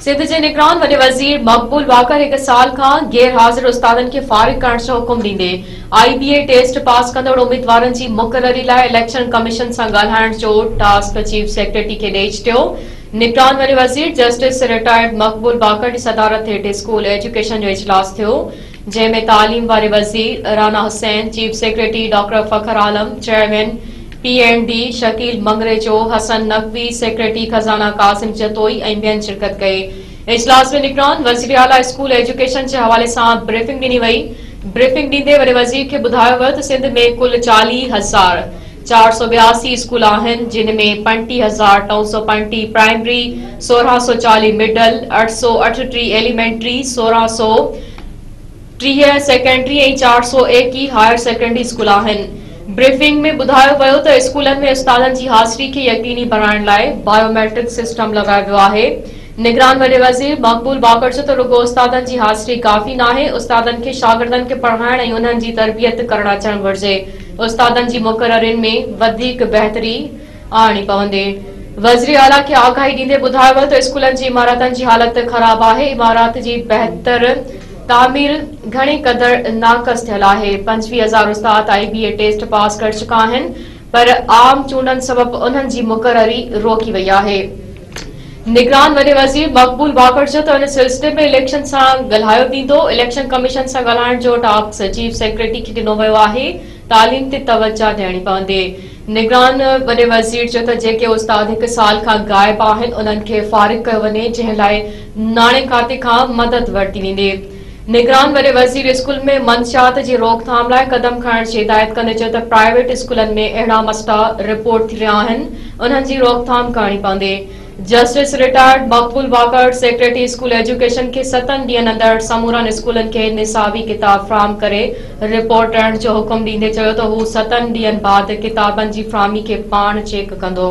سنڌ جي نگران وڏي وزير مقبول واڪر هڪ سال کان غير حاضر استادن کي فارغ ڪرڻ جو حڪم ڏيندي آئي بي اي ٽيسٽ پاس ڪندڙ اميدوارن جي مقرري لاء اليڪشن ڪميشن سان ڳالهائڻ جو ٽاسڪ چيف سيڪريٽري کي ڏئي ڇڏيو نگران وڏي وزير جسٽس رٽائرڊ مقبول واڪر جي صدارت هيٺ اسڪول ايجوڪيشن جو اجلاس ٿيو جنهن ۾ تعليم واري وزير Rana Hussain chief secretary doctor فخر Alam chairman P N D Shakeel مڱريچو، حسن نقوي، سيڪريٽري خزانه قاسم جتوئي ۽ ٻين شرڪت ڪئي. اجلاس ۾ نگران وزيراعليٰ اسڪول ايجوڪيشن جي حوالي سان بريفنگ ڏني وئي. بريفنگ ڏيندي وڏي وزير کي ٻڌايو ويو ته سنڌ ۾ ڪل چاليهه هزار چار سؤ ٻياسي اسڪول آهن جن ۾ پنجٽيهه هزار ٽئون سؤ پنجٽيهه پرائمري، سورهن سؤ چاليهه مڊل، اٺ سؤ اٺٽيهه ايليمينٽري، سورهن سؤ. ٽيهه سيڪنڊري ۽ چار سؤ ايڪيهه هائر سيڪنڊري اسڪول آهن. بريفنگ ۾ ٻڌايو ويو ته اسڪولن ۾ استادن جي حاضري کي يقيني بڻائڻ لاء بايو ميٽرڪ سسٽم لڳايو ويو آهي. نگران وڏي وزير مقبول باقر چيو ته رڳو استادن جي حاضري ڪافي ناهي، استادن کي شاگردن کي پڙهائڻ ۽ انهن جي تربيت ڪرڻ اچڻ گهرجي، استادن جي مقررين ۾ وڌيڪ بهتري، آڻي پوندي. وزيراعليٰ کي آگاهي ڏيندي ٻڌايو ويو ته اسڪولن جي عمارتن جي حالت خراب آهي، عمارات جي بهتر تعمير گهڻي قدر ناقص ٿيل آهي، پنجويهه هزار استاد آء بي اي ٽيسٽ پاس ڪري چڪا آهن پر عام چونڊن سبب انهن جي مقرري روڪي وئي آهي. نگران وڏي وزير مقبول واڪر چيو ته ان سلسلي ۾ اليڪشن سان ڳالهايو ويندو، اليڪشن ڪميشن سان ڳالهائڻ جو ٽاسڪ چيف سيڪريٽري کي ڏنو ويو آهي، تعليم تي توجهه ڏيڻي پوندي. نگران وڏي وزير چيو ته جيڪي استاد هڪ سال کان غائب آهن انهن کي فارغ ڪيو وڃي جنهن لاء ناڻي کاتي کان مدد ورتي ويندي. نگران وڏي وزير اسڪول ۾ منشيات جي روڪٿام لاء قدم کڻڻ جي هدايت ڪندي چيو ته پرائيويٽ اسڪولن ۾ اهڙا مسئلا رپورٽ ٿي رهيا آهن انهن جي روڪٿام ڪرڻي پوندي. Justice retired Maqbool Baqar secretary school education کي ستن ڏينهن اندر سمورن اسڪولن کي نصابي ڪتاب فراهم ڪري رپورٽ ڏيڻ جو حڪم ڏيندي چيو ته هو ستن ڏينهن بعد ڪتابن جي فراهمي کي پاڻ چيڪ ڪندو.